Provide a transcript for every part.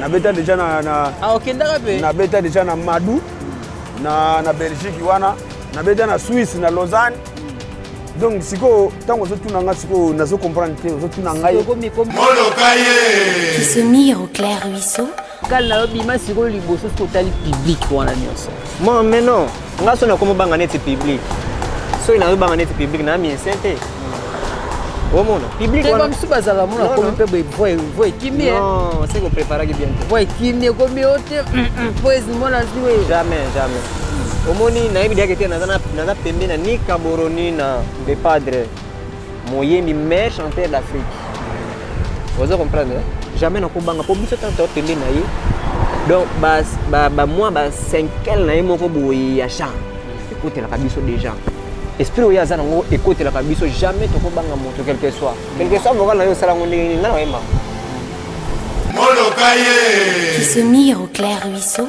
nabeta deja na, na, ah, okay, nabeta deja na madu na, na belgique wana nabeta na swisse na lausanne donc sikoyo ntango ozotuna ngai sikoyo nazo comprendre te ozotuna ngai moloka ye kisemir au clair ruisseau kali na yo bima sikoyo liboso soki otali publike wana nyonso mon mais non Nga so nakomi banga neti public. Soki nazo banga neti public na mi insente. Omona public wana. Keba msuba zala mona komi pe boy boy boy kimie. Non, c'est qu'on prépare ki bien. Boy kimie komi ote. Boys mona ziwe. Jamais, jamais. Omoni nayebi dia kete naza na naza pembe na ni Caboroni na de padre. moyembi meilleur chanteur d'afrique oza comprendre hein? jamais nakobanga mpo biso tata tokende na ye donc bamwa basenkele na ye moko boye ya genre ekotelaka biso déjà esprit oyo aza nango ekotelaka biso jamais tokobanga moto quelque soit quelque soit vocal na yo osala yango ndenge nini nga na oyemba moloka ye kisemir au clair ruisseau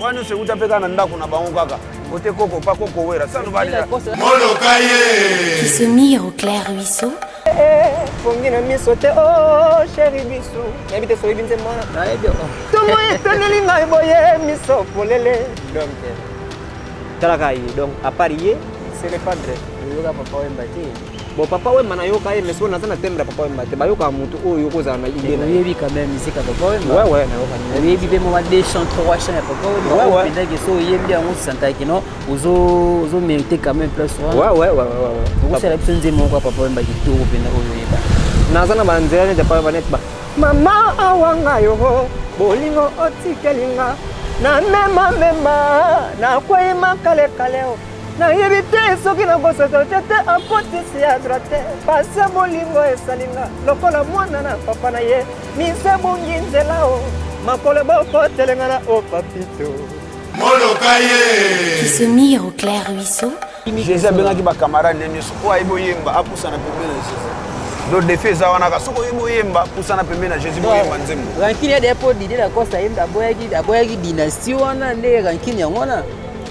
wana nyonso ewuta mpe kaka na ndako na bango kaka kote koko pa koko wera sano bamoloka ye kisemir au clair ruisseau pongi na miso te o oh, sheri bisu nayebi te soyebi nzembo wana nayebi ntongo etoneli ngai boye miso polele donc talaka ye donc apart ye c'est le padre oyoka papa oyemba te Bon papa wemba nayoka ye mais sikoyo naza na tembe ya papa wemba te bayokaka motu oyo okozala na idée na oyebi quand même musique ya papa wemba ouais ouais nayoka oyebi mpe mwa deux chant trois chant ya papa wemba ouais ouais pendaki so oyembi yango osantaki no ozo ozo mérite quand même place wana ouais ouais ouais ouais ouais okosala biso nzembo moko ya papa wemba kitoko mpenza oyo oyeba naza na banzela neti ya papa wemba neti ba mama awanga yo bolingo otikelinga na mema mema na kwei makale kale nayebi te soki nakosaka te te akotisi ya droite pasi ya bolingo esalinga lokola mwana na papa na ye mise ebongi nzela o makolo bokotelenga na o papito moloka ye kisomir au clair ruisseau jésus abengaki bacamarade ne nyonso oyo ayebi oyemba apusana pembe na jésus do defi eza wana ka soki oyebi oyemba pusana pembe na jésus boyemba nzembo rankine ya depo dide na kosa yemba aboyaki dynastie wana nde rankine yango wana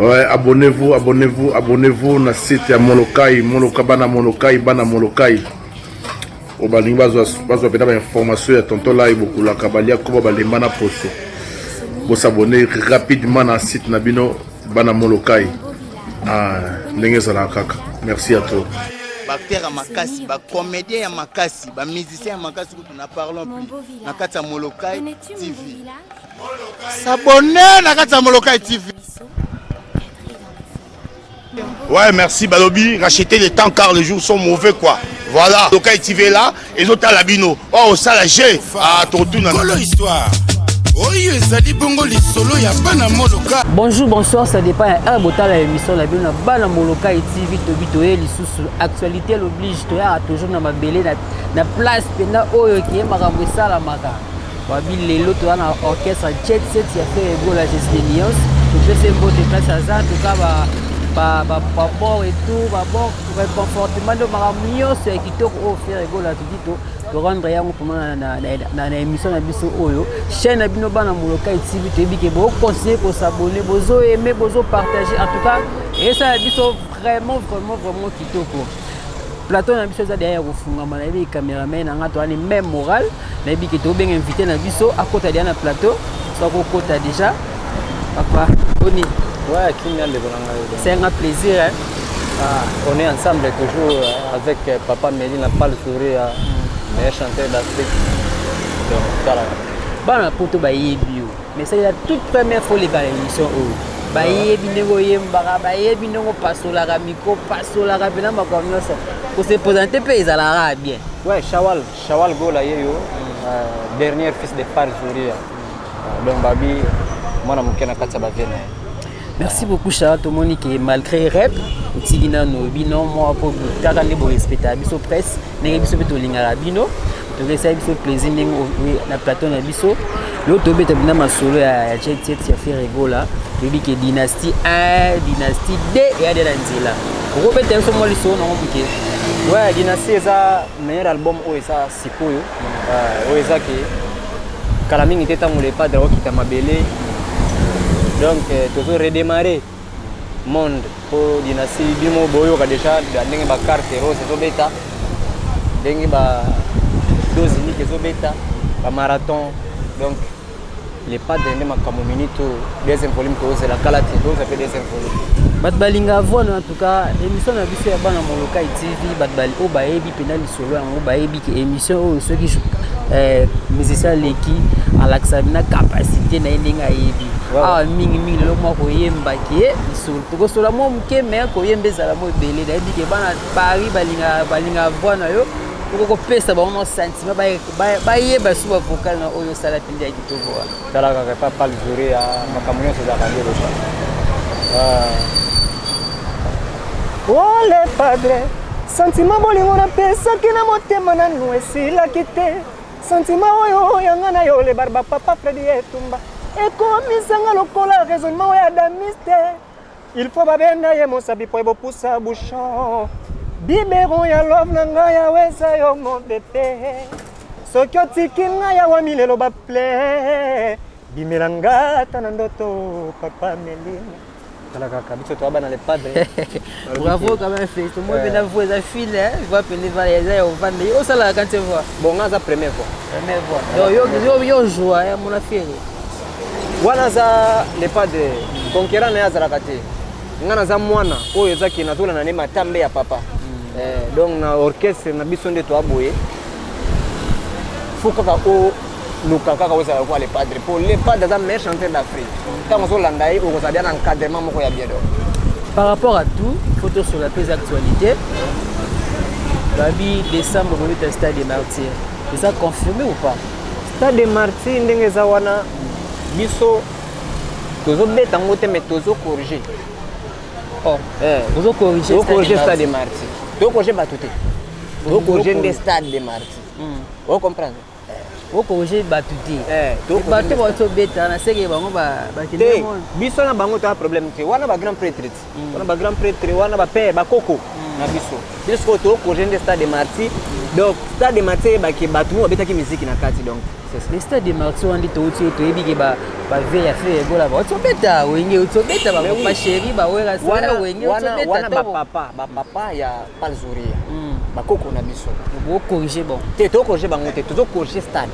Ouais, abonnez-vous, abonnez-vous, abonnez-vous na site ya Molokai, Moloka bana Molokai, bana Molokai. Oyo balingi bazwa bazwa mpenza bainformation ya tonton lai bokulaka balia koba balemba na poso bosabone rapidement na site na bino bana Molokai ah, ndenge ezalaka kaka merci à toi baacteur ya makasi bacomédien ya makasi bamusicien ya makasi kutu na parlon plus na kati ya Molokai TV S'abonner na kati ya Molokai TV. Ouais, merci Balobi. Racheter les temps car les jours sont mauvais quoi. Voilà. Donc quand tu es là, et autres à l'abino. Oh, ça la j'ai. Ah, ton tout n'a. Quelle histoire oyo ezali bongo lisolo ya bana moloka bonjour bonsoir ça dépend ya heure botala ya émission na bino na bana moloka et tv tobi toye lisusu actualité l'oblige toyaka toujours na mabele na place mpenza oyo keye makambo esalamaka Wabi lelo toza na orchestre jet set ya Ferre Gola Jesle Lions topese mbote place aza toka babor etout babor reconfortement nde makambo nyonso ya kitoko oyo Ferre Gola toki to torendre yango mpona na émission na biso oyo chaîne na bino bana molokai tv toyebi ke bocontinue kosabone bozoaime bozopartage en tout cas esala biso vraiment vraiment vraiment kitoko plateau na biso eza deya ya kofungama nayebi cameraman na nga toani meme moral nayebi ke tobenga invité na biso akota deya na plateau so akokota déjà papa boni ouais, kinga ndeko na ngai c'est un plaisir hein? ah, on est ensemble toujours euh, avec euh, papa meli na pale souri ya mm. meilleur chanteur d'afrique donc tala bana poto bayebi yo mais c'est la toute première fois oleka na émission oyo bayebi ndenge oyembaka bayebi ndenge opasolaka mikro opasolaka mpena makambo nyonso kosepresente mpe ezalaka bien ouais shawal shawal gola ye yo euh, dernier fils de par juria euh, donc babi mwana moke na kati ya bavie na ye Merci beaucoup Chara, tomoni que malgré rep otiki nano bino mwa mpo kaka nde borespectaka biso presse ndenge biso mpe tolingaka bino tokesaki biso plaisir ndenge na plateau na biso yo tobeta bina masolo ya chetchet ya ferregola toyebi ke dynastie 1 dynastie 2 eyade na nzela okobeta biso mwa lisolo nango moke ouais dynastie eza meilleur album oyo eza sikoyo Ah, oyo eza ke kala mingi te ntango le padre akokita mabele donc euh, tozo redémarrer monde mpo dynastie bimo boyoka déjà ndenge bacarte rose ezobeta ndenge ba dose unique ezobeta bamarathon donc le padre nde makambo minute oyo deuxième volume tozela kala te toza mpe deuxième volume bato balinga avwana en tout cas émission na biso ya bana molokai tv bato bali oyo bayebi mpena lisolo yango bayebi ke émission oyo soki eh, musicien aleki alakisa bina capacité na ye ndenge ayebi awa mingi mingi lelo mwa koyemba ke lisolo tokosola mwa moke me koyemba ezala mwa ebele nayebi ke bana paris balinga balinga avwana yo okoki kopesa bango mwa sentiment baye basu ba vocal na oyo osala mpenza ya kitoko wana tala kaka epa pale jure ya makambo nyonso ezalaka nde loba ole ah. padre santima bolingo napesaki na motema nanu esilaki te santima oyo yanga na yo lebarba papa fredi etumba ekomisanga lokola raisonnement oyo adamiste Il faut babenga ye mosabi po ebopusa bouchon. Biberon ya love na ngai awa eza yo mon bebe. Soki otiki ngai awa milelo ba plein. Bimela nga ata na ndoto papa Melina. Tala kaka biso toa bana le padre. Bravo quand même Félix. Moi Eh. bena voix eza fil hein. Voix pende va eza ya ovanda. Yo sala quand tu vois. Bon nga aza premier fois. Première voix. Yo yo yo yo joie ya mona Félix. wana aza le padre conquerant na ye azalaka te ngai naza mwana oyo eza ke nazolanda nde matambe ya papa mm. eh, donc na orchestre na biso nde toa boye fo kaka oluka kaka ozala lokola le padre mpo le padre aza meilleur chanteur d'afrique ntango ozolanda ye okozala bia na encadrement moko ya biedo par rapport à tout fo tosola mpe eza actualité babi décembre bobeta stade de martyr eza confirmé ou pas Stade de Martyrs ndenge eza wana biso tozobeta yango te mais tozo corriger. Oh, eh, bozo corriger. Bozo corriger Stade de Martyrs. Tozo corriger bato te. Bozo corriger nde Stade de Martyrs. Hmm. Vous comprenez? okoje bato te eh, bato bato beta na seke bango bakende biso na bango toa problème te wana ba grand prêtre ti wana ba grand pretre wana ba père bakoko na biso biso sikoyo tokoje nde stade de marti donc stade de marti eyebaki bato mo babetaki miziki na kati donc le stade de marti wana nde touti oyo toyebi ke bave ya fe egola baoti obeta wenge oti obeta bapapa sheri baweraswana wenge oti obeta wana bapapa bapapa ya pale zuria mm. bakoko na biso bokorige bango te tokorige bango te tozokorige stade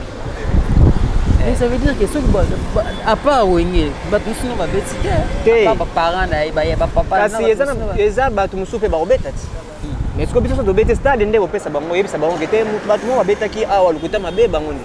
eh. ça veut dire que soki à part wenge bato mosusu no babeti te baparent na ye baye bapapakasi eza bato mosusu mpe bakobeta ti hmm. mais soki biso tobeti stade nde kopesa bango oyebisa bango ke te bato moko babetaki awa lokuta mabe bango nde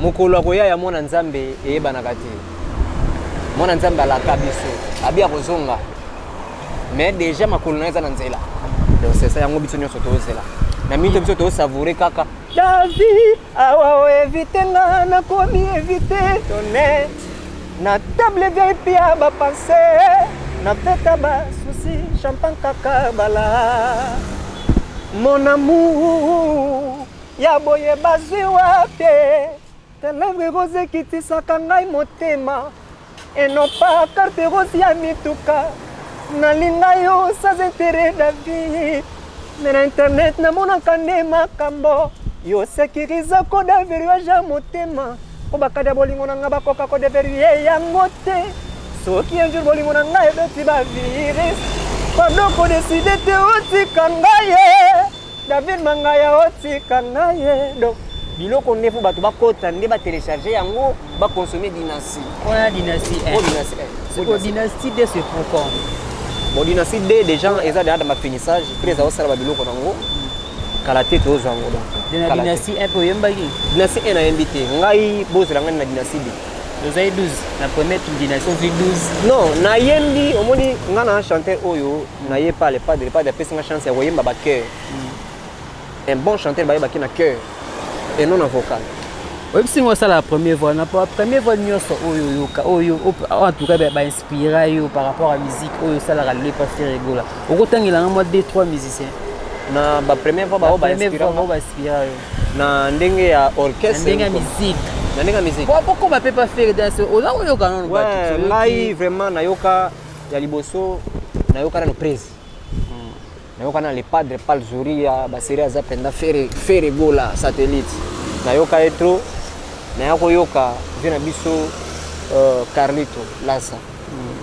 mokolo ya koya ya mwana nzambe eyebanaka te mwana nzambe alaka biso abi akozonga mais déjà makolo na eza na nzela donc c'est ça yango biso nyonso tozela na mito biso tosavoure kaka la vie awa oevite nga nakomi evite tone na table vip ya bapense na peta basusi champagne kaka bala mon amour Ya boye bazwi wapi televre rose ekitisaka ngai motema enopa carte rose ya mituka nalinga yo sans intérêt na vie me na internet namonaka nde makambo yo sekiriza koda verrouillage ya motema mpo bakada bolingo na ngai bakoka kodeverrouille yango te soki un jour bolingo na ngai ebeti bavirus pardon kodeside te otika ngai David Mangaya otika ngaye donc biloko nde mpo bato bakota nde batelecharge yango baconsomme dynastie wana dynastie eh. oh, eh. oh, dynastie de se procom bon dynastie de déjà eza deja na bafinissage mpe eza osala babiloko nango kala te tozwa yango donc dynastie un mpe oyembaki dynastie un nayembi te ngai bozela ngai na dynastie de ozali 12 na première dynastie ozwi 12 non nayembi omoni ngai na chanteur oyo Naye pa le padre, le padre apesi nga chance ya koyemba ba chœur. Un bon chanteur bayeba ki na chœur et non na vocal. oyebisi ngai osala premier voix na pa- premier voix nyonso oyo oyoka oyo op- en tout cas bainspira yo par rapport à musique oyo osalaka lelo epa fere egola okotangela ngai mwa 2 3 musicien Na ba première fois baoyo ba premier inspira voix nga bao bainspira yo na ndenge ya na orchestre. ndenge ya musique Na ndenge ya musique. po bokoma mpe pa fere danse oza koyoka nono Ouais, ngai vraiment nayoka ya liboso nayoka nano presi hmm. nayoka na le padre palzuria baserie aza mpenza fere gola satellite nayoka ye tro naya koyoka vie na biso euh, carlito lasa hmm.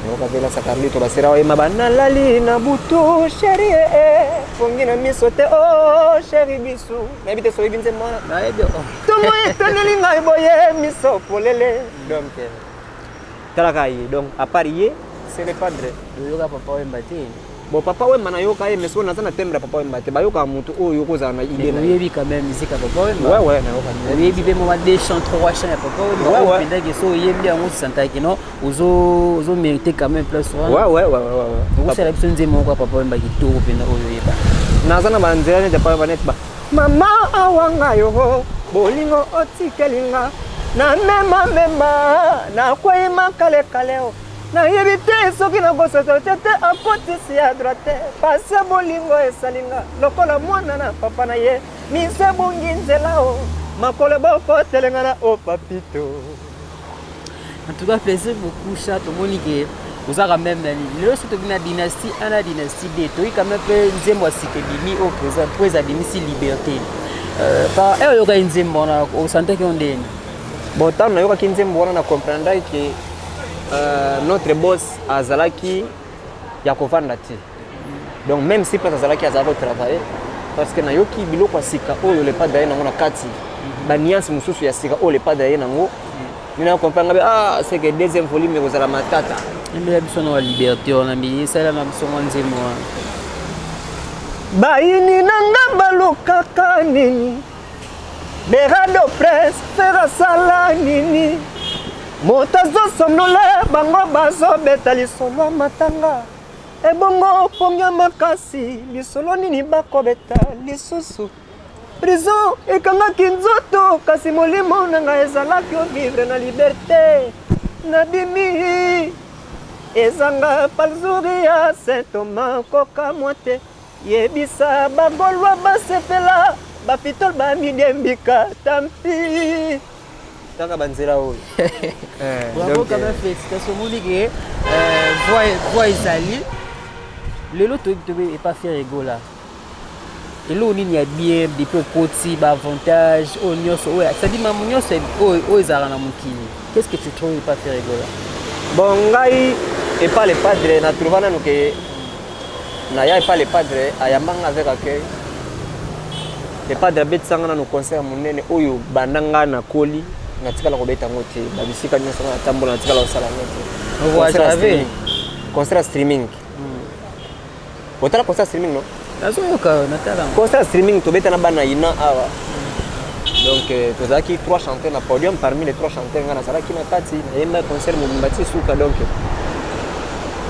nayoka mpe lasa carlito basera oyema banalali na butu sheri ee eh, eh, fongi na miso te o oh, sheri bisu nayebi te soyebi nze mwana nayebi oh. tomoyi toneli ngai boye miso polele donc eh. Tala kaka ye donc à part ye c'est le padre. Oyoka papa Wemba te. Bon papa Wemba na yoka ye mais soko naza na thème ya papa Wemba te ba yoka mutu oyo ko za na idée na. Oyebi quand même musique ya papa Wemba. Ouais ouais na yoka. Oyebi pe moi deux chants trois chants ya papa Wemba. Ouais ouais. Pendant que so oyebi yango santa que non ozo ozo mériter quand même plus. Ouais ouais ouais ouais ouais. Ozo sala biso nzembo kwa papa Wemba kitoko penda oyo yeba. Naza na ba nzela ne papa Wemba net ba. Mama awa nga yo bolingo otikeli nga na mema mema na kwei makale kale o nayebi te soki na bosoto te te akotisi ya droite pase bolingo esali nga lokola mwana na papa na ye mise ebongi nzela o makolo bokotelengana o papito En tout cas, plaisir beaucoup, chat. Au moins, oza quand même na nini lelo soki tobi na dynastie a na dynastie b toyi quand même mpe nzembo ya sika ebimi oyo mpenza mpo eza bimisi liberté par heure oyokaki nzembo wana osantaki yo ndeni bon ntango nayokaki nzembo wana na comprendaki ke notre boss azalaki ya kovanda te donc même si place azalaki azalaki kotravaille parce que nayoki biloko ya sika oyo lepa daye nango na kati mhm. baniance mosusu ya sika oyo lepa daye nango mina mhm. comprendre ngabe ah c'est que deuxième volume ekozala matata mbela biso na liberté wana mbi esala na biso mwa nzembo wana bayini na nga balukaka nini berado prince ferasala nini moto azosonola bango bazobeta lisolo matanga Ebongo pongi ya makasi lisolo nini bakobeta lisusu prison ekangaki nzoto kasi molimo na ngai ezalaki ovivre na liberte nabimi ezanga palzuri ya sentoma kokamwa te Yebisa ba golois ba sepela ba pitol ba midiembika tampi kaka banzela oyo eh, bravo quand même félicitation omoni ke euh, voix ezali lelo toyebi tobe epa fier egola eloko nini ya bien depuis okoti baavantage oyo nyonso oyo cetadi mamu nyonso oyo ezalaka na mokili qu'est ce que tu trouve epa fier egola bon ngai epa le padre na trouva nanu ke Na ya epa le padre ayamba nga avec accueil. Le padre abetisa nga nanu concert monene oyo banda nga na koli na tikala ko beta ngo te. Ba bisika nionso nga tambola na tikala ko sala ngo te. Concert ya streaming. Concert ya streaming. Hmm. Otala concert streaming no? Nazoyoka, natala. Concert streaming tobeta na bana ina awa. donc euh, tozalaki trois chanteurs na podium parmi les trois chanteurs ngai nazalaki na kati nayemba concert mobimba ti suka donc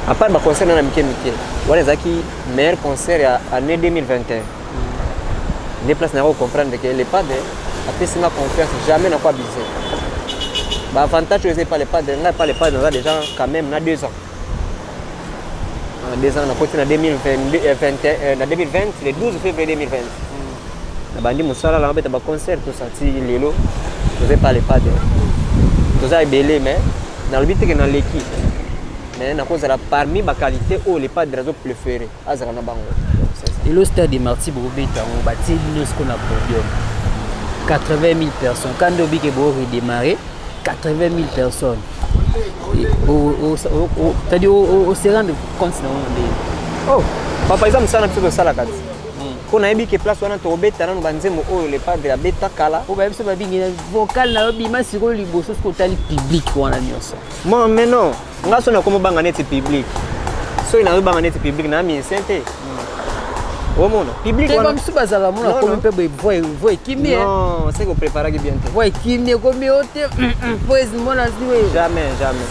à part ba concert na mike mike wana ezalaki meilleur concert ya année 2021 nde place na yango comprendre ke le padre apesi nga confiance jamais nakwa bise baavantage oyo eza epa le padre ngai epa le padre naza déjà quand même na deux ans na deux ans nakoti na 2020 euh, euh, na 2020 le 12 février 2020 na bandi mosala na beta ba concert tout ça ti lelo toza pas le pas de toza ebele mais nalobi teke naleki mais nakozala parmi ba qualité oyo le padre azo préféré azala na bango lelo stade de marti bokobeta yango batie bino siko na podium 80 000 personnes kande obike bo redémarrer 80 000 personnes c'est-à-dire oserande compte na yango ndenge oh papa eza mosala na biso tosalaka ti Mpo nayebi ke place wana tokobeta nanu banzembo oyo le padre abeta kala. Mpo bayebi so babingi na vocal na yo bima sikoyo liboso soki otali public wana nyonso. Bon mais non, nga so nakomi obanga neti public. Soki nazo banga neti public na musicien te. Omona public wana. Te bamsu bazala mona komi mpe boye voix voix ekimi. Eh. Non, c'est ko preparaki bien te. Voix ekimi ekomi yo te. Mpo ezi mona ziwe. Jamais, jamais.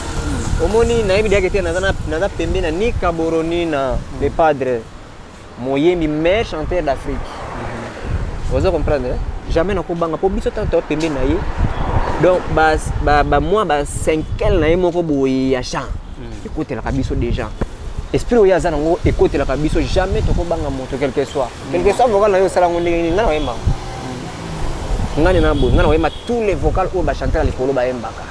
Omoni nayebi diake te naza na naza pembe na ni Kaboroni na le padre. moyembi meilleur chanteur d'afrique oza comprendre eh? jamais nakobanga mpo biso tata pembe na ye donc bamwa bacinquele na ye moko boye ya chant hmm. ekotelaka biso déjà esprit oyo aza nango ekotelaka biso jamais tokobanga moto quelque soit quelque soit vocal na yo osala yango ndenge nini ngai na oyembaka hmm. ngai na boye ngai na oyemba tous les vocal oyo bachantaka likolo bayembaka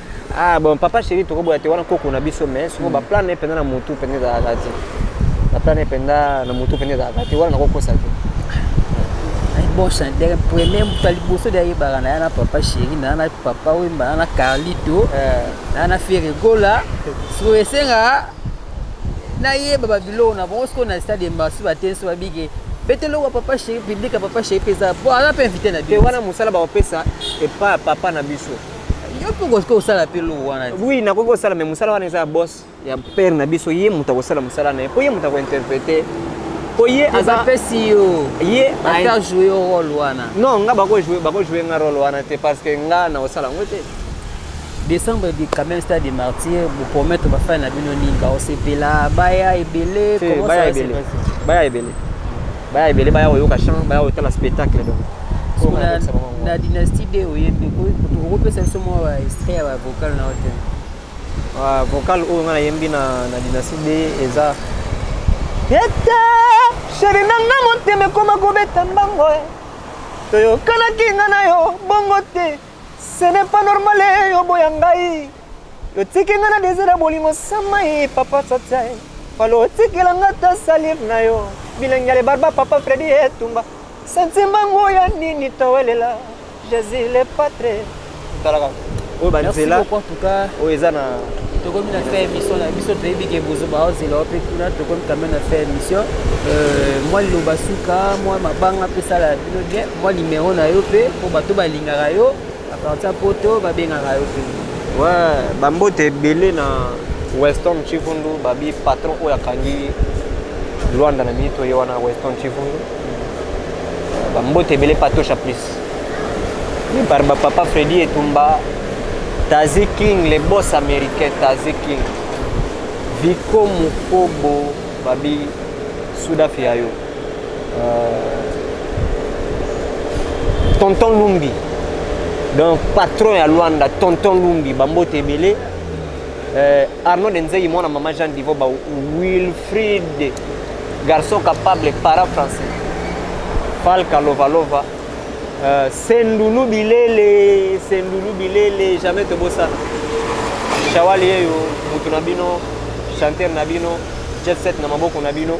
Ah bon, papa chéri, tu as wana koko na biso mais soko mm. ba plan ne penda na mutu penda za gati. Ba plan ne penda na mutu penda za gati wana koko sa te. Ay bon chanteur premier mutu ali boso de yeba na na papa chéri na na papa wemba na Carlito eh. na na Ferregola. Soko esenga na yeba ba biloko na bango soko na stade mbasu ba tenso ba bige. Betelo wa papa chéri public papa chéri pesa. Bon, ana pe invité na biso. Wana musala ba opesa et pas papa na biso. Yo mpe okoki kosala mpe loo wana. Oui, nakoki kosala mais mosala wana eza ya boss ya père na biso, ye moto akosala mosala na ye mpo ye moto akointerprete mpo ye aza pesi yo ye ata joue yo role wana. Non, nga bako joue bako joue nga role wana te parce que nga na osala ngo te. Décembre de quand même stade de martyr, vous promettre ba fan na bino nini, ba osepela, baya ebele, comment ça va se passer? Baya ebele. baya ebele baya koyoka chant baya kotala spectacle donc na dynastie de oyembi okopesa biso mwa extrait ya bavocal na ote vocal oyo ngai nayembi na dynastie de eza ete sheri na nga motema ekoma kobeta mbango eh. toyokanaki nga na yo bongo te ce n'est pas normal eh, oboya ngai Lotiki nga na désir ya bolingo sama ye papa tata ye. Falo otikela nga ta salive na yo. Bilengi ya lebarba papa Freddy etumba. Sentimba ngo ya nini towelela. Jésus le patre. Talaka. Oyo ba nzela. Merci beaucoup en tout cas. Oyo eza na tokomi na fin émission na biso toyebi ke bozoba ozela wape kuna tokomi quand même na fin émission euh, mwa liloba suka mwa mabanga mpe sala bino bien mwa nimero na yo mpe mpo bato balingaka yo A partir ya poto babengaka yo mpe. Ouais, bambote ebele na Weston Chivundu babi patron oyo akangi Luanda na mito ye wana Weston Chivundu. Bambote ebele patosha plus. Ni par ba papa Freddy Etumba, Tazi King, les boss américains Tazi King. Viko Mukobo babi Sudafi ya yo. euh, tonton lumbi donc patron ya luanda tonton lumbi bambote ebele euh, arnaud denzei mwana mama jean divo ba wilfrid garçon capable para français falka lovalova euh, sendulu bilele sendulu bilele jamais tobosana shawali yeyo motu na bino chanteur na bino jet set na maboko na bino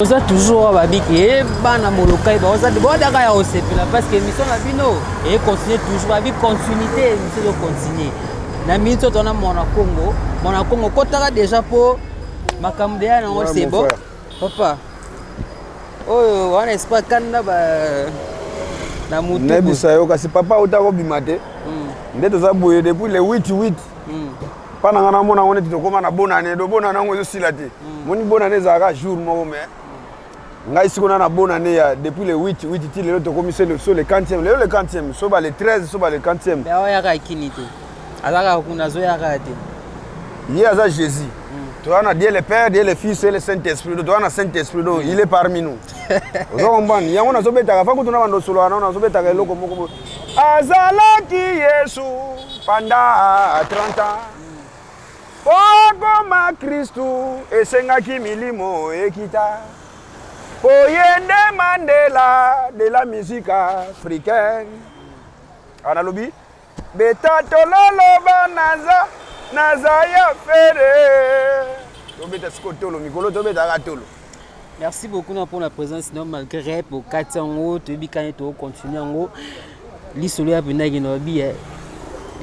oza toujours oyo babiki e bana molokai baozadaka ya osepela parce que émission na bino e continue toujours babi continuité émission ezo continue na minute oyo tona mwana congo mwana congo kotaka déjà mpo makambo deya nango c'est bon papa oyo wana espa kanda ba na motu nayebisa yo kasi papa auta kobima te hmm. nde toza boye depuis le 8 8 mpa na ngai namona yango neti tokóma na bonane do bonane yango ezosila te mm. moni bonane ezalaka jour moko mai ngai sikona na bonane ya depuis le 8 8 ti lelo tokómi se le so le 40e lelo le 40e soba le 13 soba le 40e oyaka kini te azalaka kuna azoyaka te ye aza jésus mm. toza na dieu le père dieu le fils e le saint esprit do toza na saint esprit do mm. il est parmi nous ozo comprendre yango nazobetaka fa kutu na bando osoloka nao nazobetaka eloko moko Azalaki Yesu panda 30 ans. Mpo akoma Kristu esengaki milimo ekita. Mpo ye nde Mandela de la musique africaine. Analobi beta tololoba naza naza ya fere. Tobeta siko tolo mikolo tobetaka tolo. Merci beaucoup na pona présence na malgré rep okati yango toyebi kani tokocontinue yango lisolo ya pendaki na babi eh.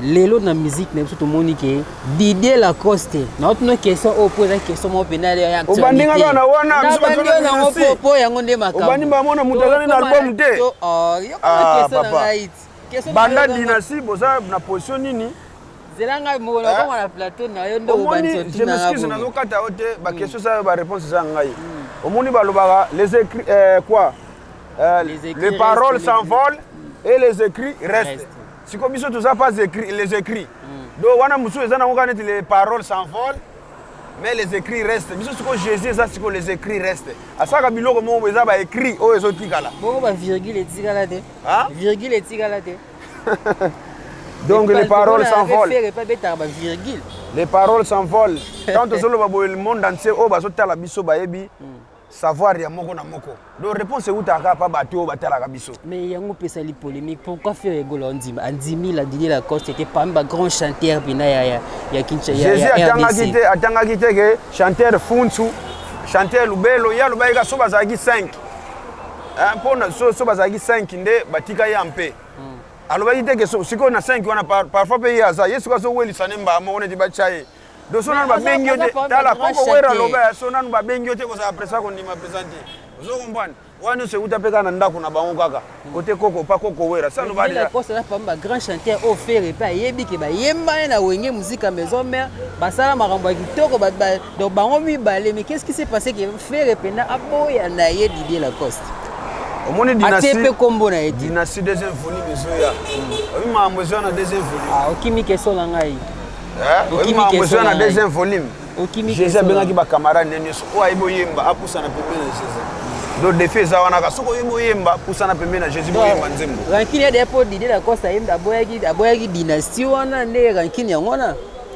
lelo na musique na biso tomoni ke didie lacoste naotuna question oyo mpo eza question moko mpenza obandi nga kaka na wana bisoyango mpo yango nde makamobandi bamona moto azali na album te oh, ah, banda dinasi boza na position nini zela ngai moko na koma na plateau na yo nde obandi so tuna ngai je nazo kata yo te ba questions ça ba réponses za ngai omoni balobaka les écrits euh, quoi euh, les, écrits les paroles s'envolent et les écrits restent siko biso toza pas écrits les écrits mm. donc wana mosusu eza nango kaka neti les paroles s'envolent mais les écrits restent biso sikoyo jésus eza sikoyo les écrits restent asalaka biloko moko eza baécrit oyo ezotikala bongo bavirgule etikala te virgule etikala te Donc les paroles s'envolent. Les paroles s'envolent. Quand tu solo babo le monde entier oh bazo tala biso bayebi hmm. savoir ya moko na moko. Donc réponse est uta ka pa bato ba tala biso. Mais yango pesa li polémique pourquoi faire rigolo en dima en dimi la Didier Lacoste était parmi ba grand chanteur bina ya ya ya Kinshasa ya Jésus atanga kite atanga kite que chanteur Funsu chanteur Lubelo ya Lubaika so bazaki 5 Eh, mpo na so, so bazalaki 5 nde batika ye ampe mm. alobaki te ke sikoyo na 5 wana parfois mpe ye aza ye sikoyo azowelisa ne mbaa moko neti batya ye do so nanu babengi yo te tala koko wera aloba ya so nanu babengi yo te kozala presa kondima presa te ozo comprendre wana nyonso euta mpe kaka na ndako na bango kaka kote koko pa koko wera salobaaposana pamba bagrand chanteur oyo fere mpe ayebi ke bayemba ye na wenge muzika maison mare basala makambo ya kitoko Donc bango mibale mais qu'est-ce qui s'est passé que Ferre pena aboya na ye Didier Lacoste. Omoni dynastie atie pe kombo na ye. Dynastie deuxième volume ezoya. Omi mambo ezoya na deuxième volume. Ah okimi keso na ngai. Eh? Omi mambo ezoya na deuxième volume. Okimi keso. Jésus abengaki ba camarades ne nyoso. Oyo ayebi oyemba apusa na pembeni na Jésus. Donc défi eza wana ka soki oyemba oyemba pusa na pembeni na Jésus boyemba nzembo. Rankine ya depo Didier Lacoste ayemba aboyaki aboyaki dynastie wana nde rankine yango wana.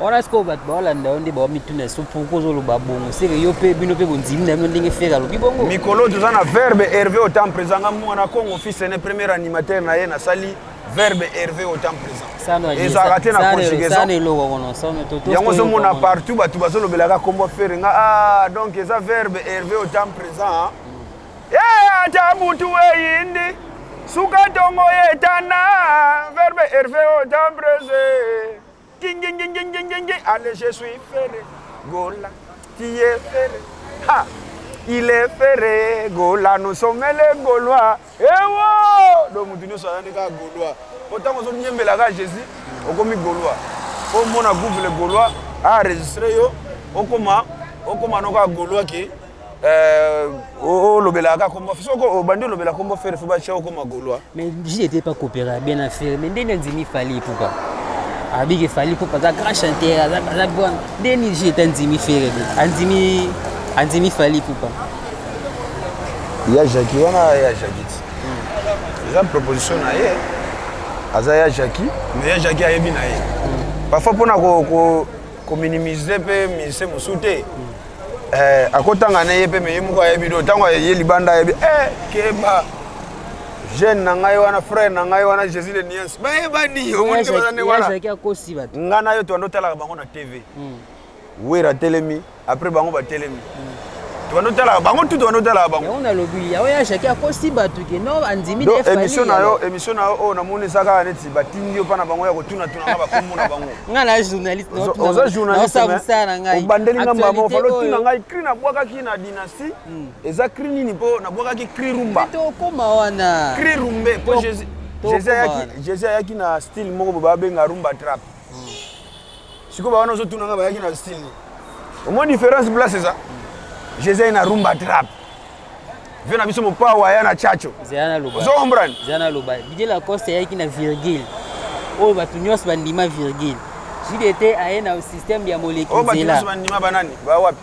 wana sikoyo bato baolanda yo nde baomituna so pourkui ozoloba bongo seke yo mpe bino mpe bondimi na bino ndenge fere alobi bongo mikolo toza na verbe herve otan présent nga mwana congo fils ne premier animateur na ye nasali verbe herve otan présent ezalaka te na conjugaisonyango ozomona partout bato bazolobelaka kombo fere nga ah donc eza verbe herve otan présent ye eh, ata butu eyindi suka ntongo etana verbe herve otan présent Ginginginginginginging, allez je suis ferre, Gola, tu es ferre, ha, il est ferre, Gola, nous sommes les Gaulois, ewo, donc mutu nyonso aza nde kaka Gaulois, po ntango ozonyembela kaka Jésus, okomi Gaulois, po omona gouve le Gaulois a enregistre yo, okoma, okoma no kaka Gaulois ke Euh, olobelaka kaka kombo soki obandi olobela kombo fere fo batya okoma golois mais je n'étais pas coopéra bien na fere mais ndenge andimi fali epuka abiki fali epuka aza grand chanteur aza bon nde nini je ete andimi fere andimi andimi fali epuka ya jaki wana ya jaki ti hmm. eza proposition na ye aza ya jaki mais ya jaki ayebi na ye hmm. parfois mpona kominimize mpe mise mosusu te eh, akotanga na ye mpe meye moko ayebi do ntango aye libanda ayebi eh, keba jeune na ngai wana frère na ngai wana jésus le niance bayebani omonike baza nde wana ngai na yo toando otalaka bango na tv hmm. wera atelemi après bango batelemi hmm. tokando talaka bango tu tokando talaka bango yango nalobi yango ya jacke akosi bato ke no andimi émission na yo émission na yo oyo namoni eza kaka neti batindi yo mpa na bango ya kotunatunanga bakombo na bango ngai na journaliste oza journalistmosala na ngai obandeli nga mbama ofali otuna ngai cri nabwakaki na dynastie hmm. eza cri nini mpo nabwakaki cri rumba tokoma wana cri rumbe mpo jésus ayaki na style moko bobabenga rumba trape Siko ba wana ozotuna nga bayaki na style nini? Omoni difference place eza? Jeza na rumba trap. Vio na biso mopao aya na chacho. Zeyana loba. Ozo comprendre? Zeyana loba. DJ Lacoste ayaki na virgule. Oyo bato nyonso bandima virgule. JDT aye na système ya moleki nzela. Oyo bato nyonso bandima banani? Ba wapi?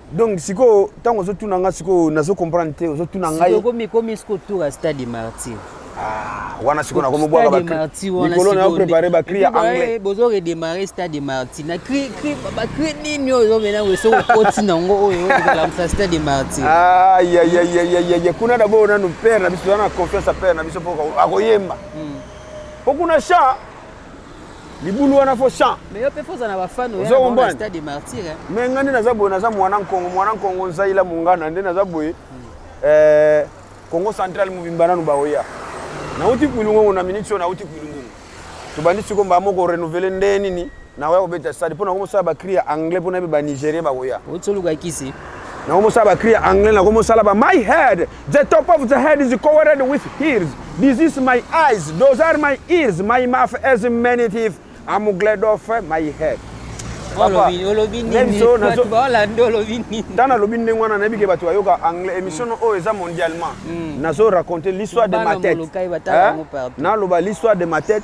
donc sikoyo ntango ozotuna nga sikoyo nazo comprendre te ozotuna ngaiekomi sikoyo tour ya stade martyr ah, wana sikoyo nakomobwakalikolo na prépare bacri ya anglais bozo redémarre stade de martyr na cri cri bacri nini oyo ozomenango soki okoti nango oyo okolamisa stade de martyr ayayayayaya kuna dabord nanu père na biso wana na confiance ya père na biso mpo akoyemba mpo hmm. kuna cha libulu wana fo champ mais yo pe foza na ba fan oya na stade de martyr hein mais ngani naza boye naza mwana nkongo mwana nkongo nzaila mungana nde naza boye hmm. euh Congo central mobimba nanu baoya nauti kuilungongo na minute oyo nauti kuilungongo tobandi siko mbaa moko renouvele nde nini nakoya kobeta stade mpo nakomosala bacri ya anglais mpo nayebi banigérien bakoya otsoluka kisi nakomosala bacri ya anglais nakomosala ba my head The top of the head is covered with hairs. This is my eyes. Those are my ears. My mouth has many teeth. I'm glad of my head. Papa, olobi nini? Tana olobi ndenge wana nayebi ke bato bayoka anglais. Emission oyo eza mondialement. Nazo raconter l'histoire de ma tête. Naloba l'histoire de ma tête.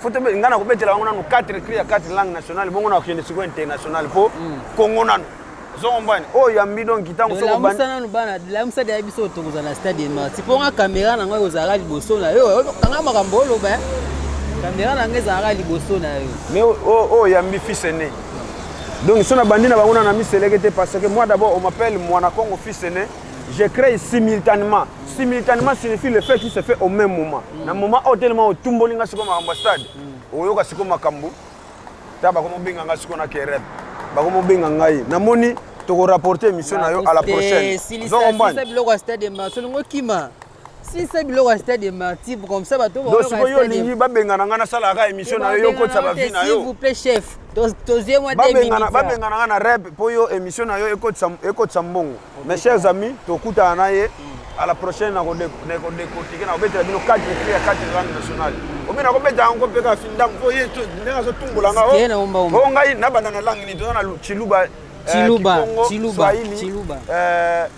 faut tobe ngai nakobetela bango nano 4 cri ya 4 langue nationale bongo nakokende sikoyo international mpo hmm. kongo nano ozokombane oyo oh, yambi donki ntango sokolamusa nano bana lamusa deya biso tokozala na stade emarti mpo nga kamera na ngai ozalaka liboso na yo kanga makambo oloba eh. kamera na ngai ezalaka liboso na yo mais oyo oh, oh, yambi fils aîné donc so nabandi na bango na na miseleke te parce que moi d'abord on m'appelle mwana congo fils aîné Je crée simultanément. Simultanément signifie le fait qui se fait au même moment. Mm. Na moment au tellement au tumboli nga siko makambo stade. Mm. Oyoka siko makambo. Ta bakomo benga nga siko na kerep. Bakomo benga ngai. Na moni toko rapporter émission na yo à la prochaine. Silisa silisa biloko stade ma solingo kima. sisa biloko ya stade de martyr comme ça bato sikoyo yo olingi babengana ngai nasalaka émission na yo yo okotisa bavi na yo chef tozie mwa babengana ngai na rep mpo yo émission na yo ekotisa mbongo mes chers amis tokutana na ye à la prochaine nakodekotike nakobetela bino 4 cri ya 4 langue nationale omi nakobeta yango mpe kaka findango mpo ye ndenge azotumbola nga o ngai nabanda na langue nini toza na chiluba chiluba chiluba chiluba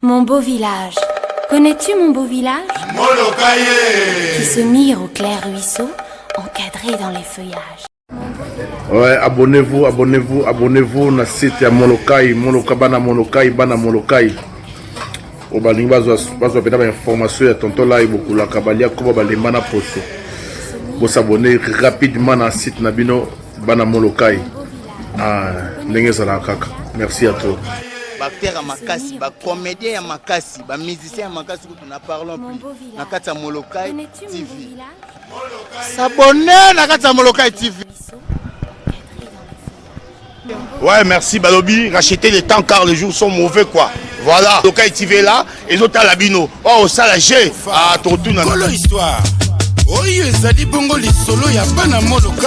Mon beau village. Connais-tu mon beau village Molokaye Qui se mire au clair ruisseau, encadré dans les feuillages. Ouais, abonnez-vous, abonnez-vous, abonnez-vous na site ya Molokai, Moloka bana Molokai, bana Molokai. O balingi bazwa bazwa pena ba information ya tonton Lai bokulaka balia koba balemba na poso. Bo s'abonner rapidement na site na bino bana Molokai. Ah, ndenge ezalaka kaka merci ya trop baacteur ya makasi bacomédien ya makasi bamusicien ya makasi kutu na parlon plus na kati ya molokai tv sabone na kati ya molokai tv Ouais, merci Balobi. Racheter les temps car les jours sont mauvais quoi. Voilà. Donc TV là, et autres à l'abino. Oh, ça la j'ai. Ah, ton tout. Histoire. Oyo ezali bongo lisolo ya bana moloka